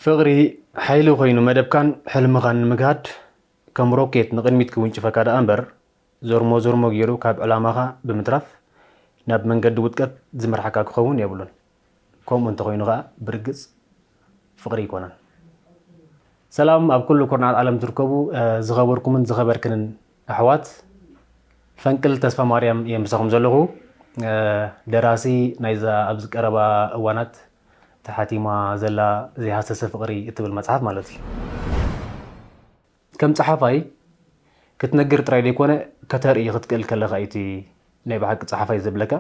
ፍቕሪ ሓይሊ ኮይኑ መደብካን ሕልምኻን ንምግሃድ ከም ሮኬት ንቕድሚት ክውንጭፈካ ደኣ እምበር ዞርሞ ዞርሞ ገይሩ ካብ ዕላማኻ ብምትራፍ ናብ መንገዲ ውድቀት ዝመርሓካ ክኸውን የብሉን። ከምኡ እንተኾይኑ ከኣ ብርግጽ ፍቕሪ ኣይኮነን። ሰላም ኣብ ኩሉ ኩርናዓት ዓለም ትርከቡ ዝኸበርኩምን ዝኸበርክንን ኣሕዋት ፈንቅል ተስፋማርያም እየ ምሳኹም ዘለኹ ደራሲ ናይዛ ኣብዚ ቀረባ እዋናት እታ ሓቲማ ዘላ ዘይሃሰሰ ፍቕሪ እትብል መጽሓፍ ማለት እዩ። ከም ጸሓፋይ ክትነግር ጥራይ ዘይኮነ ከተርኢ ክትክእል ከለኻ እዩ እቲ ናይ ብሓቂ ጸሓፋይ ዘብለካ።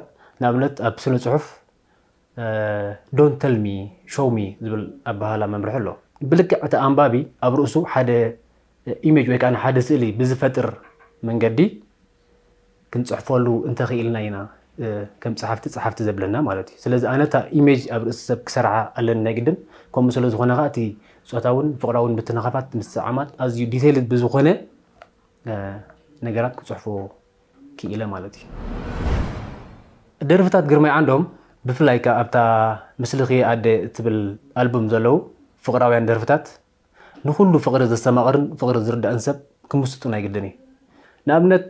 ንኣብነት ኣብ ስነ ጽሑፍ ዶንት ተል ሚ ሾው ሚ ዝብል ኣበሃህላ መምርሒ ኣሎ። ብልክዕ እቲ ኣንባቢ ኣብ ርእሱ ሓደ ኢሜጅ ወይ ከዓ ሓደ ስእሊ ብዝፈጥር መንገዲ ክንጽሕፈሉ እንተ ኺኢልና ኢና ከም ጸሓፍቲ ጸሓፍቲ ዘብለና ማለት እዩ። ስለዚ ኣነ እታ ኢሜጅ ኣብ ርእሲ ሰብ ክሰርዓ ኣለኒ ናይ ግድን፣ ከምኡ ስለ ዝኾነ ከኣ እቲ ጾታውን ፍቕራውን ምትንኻፋት፣ ምስጥዕዓማት ኣዝዩ ዲተይልድ ብዝኾነ ነገራት ክጽሕፎ ክኢለ ማለት እዩ። ደርፍታት ግርማይ ዓንዶም ብፍላይ ከኣ ኣብታ ምስልኺ'የ ኣደ እትብል ኣልቡም ዘለዉ ፍቕራውያን ደርፍታት ንኹሉ ፍቕሪ ዘስተማቕርን ፍቕሪ ዝርዳእን ሰብ ክምስጡን ኣይግድን እዩ። ንኣብነት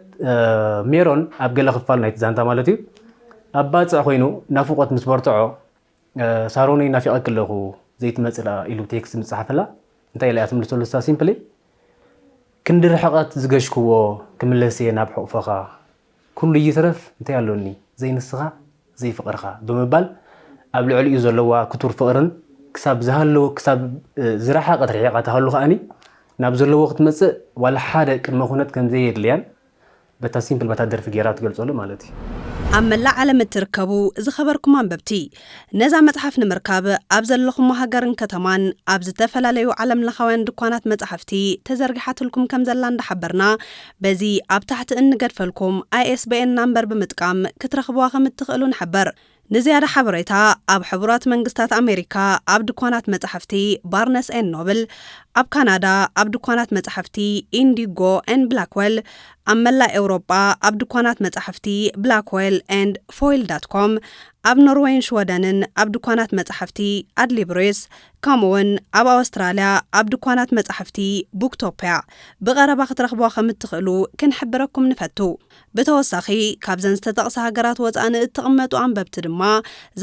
ሜሮን ኣብ ገለ ክፋል ናይቲ ዛንታ ማለት እዩ ኣብ ባፅዕ ኮይኑ ናፍቖት ምስ በርትዖ ሳሮነይ ናፊቐኪ ኣለኹ ዘይትመፅእ ደኣ ኢሉ ቴክስት ምፅሓፈላ እንታይ ኢላ እያ ትምልሰሉ ንሳ ሲምፕሊ ክንዲ ርሕቐት ዝገሽክዎ ክምለስ እየ ናብ ሕቑፈኻ ኩሉ ይትረፍ እንታይ ኣሎኒ ዘይንስኻ ዘይፍቕርኻ ብምባል ኣብ ልዕሊኡ ዘለዋ ክቱር ፍቕርን ክሳብ ዝሃለወ ክሳብ ዝረሓቐት ርሒቓ ትሃሉ ከኣኒ ናብ ዘለዎ ክትመጽእ ዋላ ሓደ ቅድመ ኩነት ከም ዘየድልያን በታ ሲምፕል በታ ደርፊ ገይራ ትገልጸሉ ማለት እዩ። ኣብ መላእ ዓለም እትርከቡ ዝኸበርኩም ኣንበብቲ፣ ነዛ መጽሓፍ ንምርካብ ኣብ ዘለኹሞ ሃገርን ከተማን ኣብ ዝተፈላለዩ ዓለምለኻውያን ድኳናት መጻሕፍቲ ተዘርጊሓትልኩም ከም ዘላ እንዳሓበርና በዚ ኣብ ታሕቲ እንገድፈልኩም ISBN ናምበር ብምጥቃም ክትረኽብዋ ከም እትኽእሉ ንሕብር። ንዝያዳ ሓበሬታ ኣብ ሕቡራት መንግስታት ኣሜሪካ ኣብ ድኳናት መጻሕፍቲ ባርነስ ኤን ኖብል፣ ኣብ ካናዳ ኣብ ድኳናት መጻሕፍቲ ኢንዲጎ ኤን ብላክዌል፣ ኣብ መላእ ኤውሮጳ ኣብ ድኳናት መጻሕፍቲ ብላክዌል ኤንድ ፎይል ዳት ኮም፣ ኣብ ኖርወይን ሽወደንን ኣብ ድኳናት መጻሕፍቲ ኣድሊብሪስ ከምኡውን ኣብ ኣወስትራልያ ኣብ ድኳናት መጻሕፍቲ ቡክቶፕያ ብቐረባ ክትረኽብዋ ከም እትኽእሉ ክንሕብረኩም ንፈቱ። ብተወሳኺ ካብዘን ዝተጠቕሳ ሃገራት ወጻኢ ንእትቕመጡ ኣንበብቲ ድማ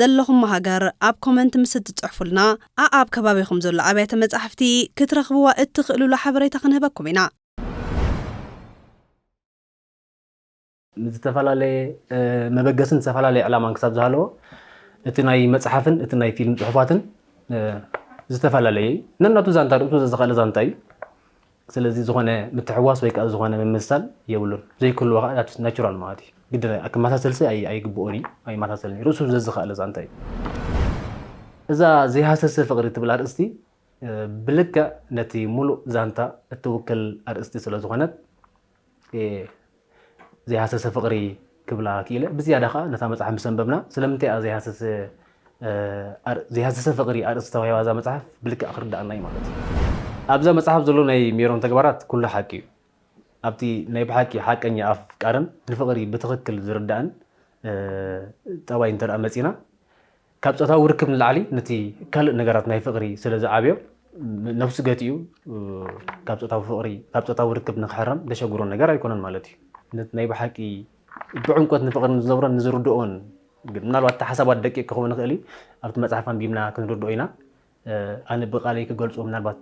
ዘለኹሞ ሃገር ኣብ ኮመንት ምስ እትጽሕፉልና ኣኣብ ከባቢኹም ዘሎ ኣብያተ መጻሕፍቲ ክትረኽብዋ እትኽእሉሉ ሓበሬታ ክንህበኩም ኢና። ንዝተፈላለየ መበገስን ዝተፈላለየ ዕላማን ክሳብ ዝሃለዎ እቲ ናይ መፅሓፍን እቲ ናይ ፊልም ፅሑፋትን ዝተፈላለየ እዩ ነናቱ ዛንታ ርእሱ ዘዝኸእለ ዛንታ እዩ ስለዚ ዝኾነ ምትሕዋስ ወይ ከዓ ዝኾነ ምምሳል የብሉን ዘይክህልዎ ከዓ ናቹራል ማለት እዩ ግድ ክመሳሰልሲ ኣይግብኦን እዩ ኣይመሳሰልን እዩ ርእሱ ዘዝኸእለ ዛንታ እዩ እዛ ዘይሃሰሰ ፍቕሪ ትብል ኣርእስቲ ብልክዕ ነቲ ሙሉእ ዛንታ እትውክል ኣርእስቲ ስለዝኾነት ዘይሃሰሰ ፍቕሪ ክብላ ክኢለ ብዝያዳ ከዓ ነታ መፅሓፍ ምስ ኣንበብና ስለምንታይ እያ ዘይሃሰሰ ዘይሃሰሰ ፍቕሪ ኣርእስቲ ተዋሂባ እዛ መጽሓፍ ብልክዕ ክርዳኣና እዩ ማለት እዩ ኣብዛ መጽሓፍ ዘሎ ናይ ሜሮን ተግባራት ኩሉ ሓቂ እዩ ኣብቲ ናይ ብሓቂ ሓቀኛ ኣፍቃርን ንፍቕሪ ብትኽክል ዝርዳእን ጠባይ እንተ መፂና ካብ ጾታዊ ርክብ ንላዕሊ ነቲ ካልእ ነገራት ናይ ፍቕሪ ስለ ዝዓብዮ ነብሱ ገቲኡ ካብ ጾታዊ ፍቕሪ ካብ ጾታዊ ርክብ ንክሕረም ዘሸግሮ ነገር ኣይኮነን ማለት እዩ። ነቲ ናይ ብሓቂ ብዕምቆት ንፍቕሪ ንዝነብሮን ንዝርድኦን ግን ምናልባት እቲ ሓሳባት ደቂቕ ክኸውን ይኽእል እዩ ኣብቲ መጽሓፍ ኣንቢብና ክንርድኦ ኢና ኣነ ብቃለይ ክገልጾ ምናልባት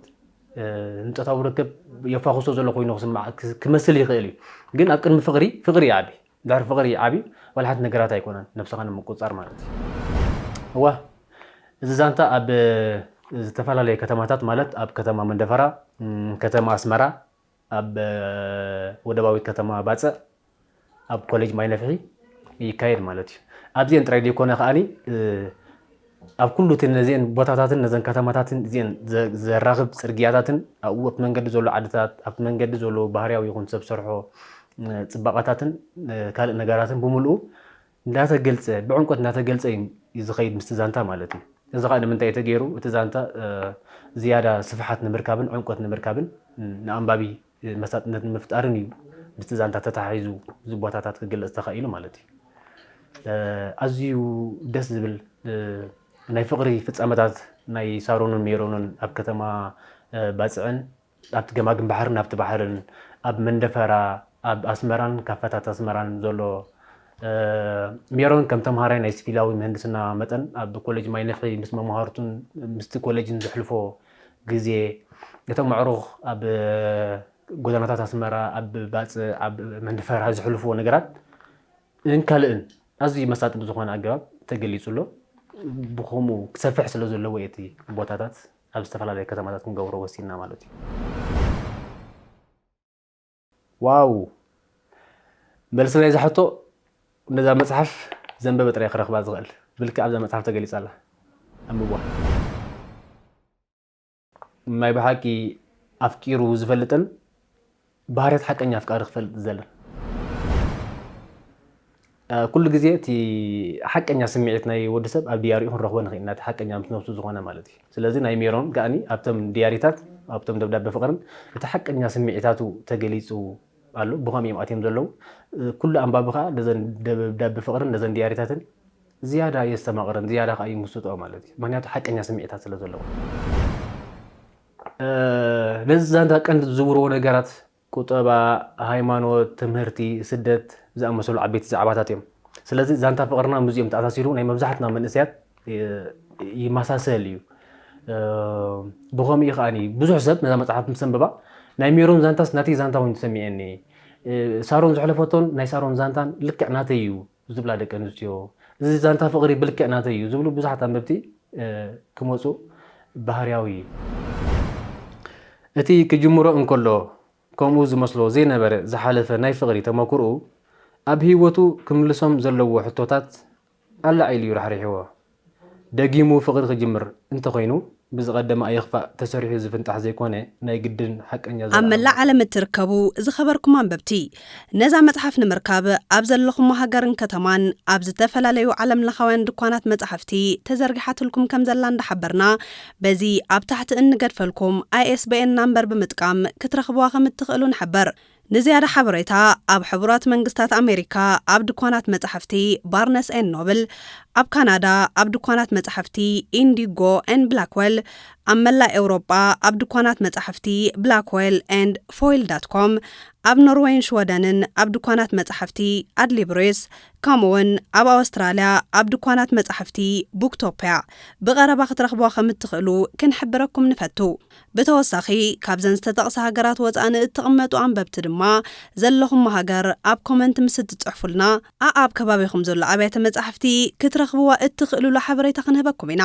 ንጾታዊ ርክብ የፋኹሶ ዘሎ ኮይኑ ክስማዕ ክመስል ይኽእል እዩ ግን ኣብ ቅድሚ ፍቕሪ ፍቕሪ ይዓቢ ድሕሪ ፍቅሪ ዓቢ ዋላ ሓንቲ ነገራት ኣይኮነን ነብስኻ ንምቁጽጻር ማለት እዩ። እወ እዚ ዛንታ ኣብ ዝተፈላለየ ከተማታት ማለት ኣብ ከተማ መንደፈራ፣ ከተማ ኣስመራ፣ ኣብ ወደባዊት ከተማ ባጽዕ፣ ኣብ ኮሌጅ ማይነፍሒ ይካየድ ማለት እዩ። ኣብዚኤን ጥራይ ዘይኮነ ከኣ ኣብ ኩሉ እቲ ነዚኤን ቦታታትን ነዘን ከተማታትን እዚኤን ዘራኽብ ጽርግያታትን ኣብኡ ኣብቲ መንገዲ ዘሎ ዓድታት ኣብቲ መንገዲ ዘሎ ባህርያዊ ይኹን ሰብ ሰርሖ ጽባቐታትን ካልእ ነገራትን ብምልኡ እንዳተገልጸ ብዕምቆት እንዳተገልጸ እዩ ዝኸይድ ምስቲ ዛንታ ማለት እዩ። እዚ ከዓ ንምንታይ ተገይሩ እቲ ዛንታ ዝያዳ ስፍሓት ንምርካብን ዕምቆት ንምርካብን ንኣንባቢ መሳጥነት ንምፍጣርን እዩ ምስቲ ዛንታ ተተሓሒዙ እዚ ቦታታት ክግለፅ ተኻኢሉ ማለት እዩ። ኣዝዩ ደስ ዝብል ናይ ፍቕሪ ፍፃመታት ናይ ሳሮንን ሜሮንን ኣብ ከተማ ባፅዕን ኣብቲ ገማግም ባሕርን ኣብቲ ባሕርን ኣብ መንደፈራ ኣብ ኣስመራን ካፈታት ኣስመራን ዘሎ ሜሮን ከም ተምሃራይ ናይ ሲቪላዊ ምህንድስና መጠን ኣብ ኮሌጅ ማይነፍሒ ምስ መምሃርቱን ምስቲ ኮሌጅን ዘሕልፎ ግዜ፣ እቶም ኣዕሩኽ ኣብ ጎደናታት ኣስመራ፣ ኣብ ባጽዕ፣ ኣብ መንደፈራ ዘሕልፍዎ ነገራት እን ካልእን ኣዝዩ መሳጢ ብዝኾነ ኣገባብ ተገሊጹ ኣሎ። ብኸምኡ ክሰፍሕ ስለ ዘለዎ እዩ እቲ ቦታታት ኣብ ዝተፈላለየ ከተማታት ክንገብሮ ወሲንና ማለት እዩ። ዋው መልሲ ናይዛ ሕቶ ነዛ መጽሓፍ ዘንበበ ጥራይ ክረኽባ ዝኽእል ብልክዕ ኣብዛ መጽሓፍ ተገሊጻ ኣላ ኣንብቧ ናይ ብሓቂ ኣፍቂሩ ዝፈልጥን ባህርያት ሓቀኛ ኣፍቃሪ ክፈልጥ ዝደልን ኩሉ ግዜ እቲ ሓቀኛ ስምዒት ናይ ወዲ ሰብ ኣብ ድያሪኡ ክንረኽቦ ንኽእል ኢና፣ እቲ ሓቀኛ ምስ ነብሱ ዝኾነ ማለት እዩ። ስለዚ ናይ ሜሮን ከኣኒ ኣብቶም ድያሪታት ኣብቶም ደብዳበ ፍቕርን እቲ ሓቀኛ ስምዒታቱ ተገሊጹ ኣሎ፣ ብኸምኡ እዮም ኣትዮም ዘለዉ። ኩሉ ኣንባቢ ከኣ ነዘን ደብዳበ ፍቕርን ነዘን ድያሪታትን ዝያዳ የስተማቕረን ዝያዳ ከኣ ይምስጦኦ ማለት እዩ፣ ምኽንያቱ ሓቀኛ ስምዒታት ስለ ዘለወን። ነዚ ዛንታ ቀንዲ ዝዝውርዎ ነገራት ቁጠባ፣ ሃይማኖት፣ ትምህርቲ፣ ስደት ዝኣመሰሉ ዓበይቲ ዛዕባታት እዮም። ስለዚ ዛንታ ፍቕርና ምስዚኦም ተኣሳሲሩ ናይ መብዛሕትና መንእሰያት ይመሳሰል እዩ። ብኸምኡ እዩ ከኣ ብዙሕ ሰብ ነዛ መጽሓፍ ምስ ኣንበባ ናይ ሜሮን ዛንታስ ናተይ ዛንታ ኮይኑ ተሰሚዐኒ፣ ሳሮን ዘሕለፈቶን ናይ ሳሮን ዛንታን ልክዕ ናተይ እዩ ዝብላ ደቂ ኣንስትዮ፣ እዚ ዛንታ ፍቕሪ ብልክዕ ናተይ እዩ ዝብሉ ብዙሓት ኣንበብቲ ክመጹ ባህርያዊ እዩ። እቲ ክጅምሮ እንከሎ ከምኡ ዝመስሎ ዘይነበረ ዝሓለፈ ናይ ፍቕሪ ተመኩርኡ፣ ኣብ ህይወቱ ክምልሶም ዘለዎ ሕቶታት ኣላዒሉ እዩ ራሕሪሕዎ። ደጊሙ ፍቅሪ ክጅምር እንተኮይኑ ብዝቀደመ ኣይኽፋእ ተሰሪሑ ዝፍንጣሕ ዘይኮነ ናይ ግድን ሓቀኛ ኣብ ዘልኣለማዊ መላእ ዓለም እትርከቡ ዝኸበርኩም ኣንበብቲ፣ ነዛ መጽሓፍ ንምርካብ ኣብ ዘለኹሞ ሃገርን ከተማን ኣብ ዝተፈላለዩ ዓለምለኻውያን ድኳናት መጻሕፍቲ ተዘርጊሓትልኩም ከም ዘላ እንዳሓበርና፣ በዚ ኣብ ታሕቲ እንገድፈልኩም ISBN ናምበር ብምጥቃም ክትረኽብዋ ከም እትኽእሉ ንሕብር። ንዝያዳ ሓበሬታ ኣብ ሕቡራት መንግስታት ኣሜሪካ ኣብ ድኳናት መጻሕፍቲ ባርነስ ኤን ኖብል፣ ኣብ ካናዳ ኣብ ድኳናት መጻሕፍቲ ኢንዲጎ ኤን ብላክወል፣ ኣብ መላእ ኤውሮጳ ኣብ ድኳናት መጻሕፍቲ ብላክወል ኤንድ ፎይል ዳት ኮም፣ ኣብ ኖርወይን ሽወደንን ኣብ ድኳናት መጻሕፍቲ ኣድሊብሪስ፣ ከምኡ'ውን ኣብ ኣወስትራልያ ኣብ ድኳናት መጻሕፍቲ ቡክቶፕያ ብቐረባ ክትረኽቡዋ ከም እትኽእሉ ክንሕብረኩም ንፈቱ። ብተወሳኺ ካብዘን ዝተጠቕሳ ሃገራት ወፃኢ ንእትቕመጡ ኣንበብቲ ድማ ዘለኹሞ ሃገር ኣብ ኮመንት ምስ እትፅሕፉልና ኣኣብ ከባቢኹም ዘሎ ኣብያተ መፃሕፍቲ ክትረኽብዋ እትኽእሉሉ ሓበሬታ ክንህበኩም ኢና።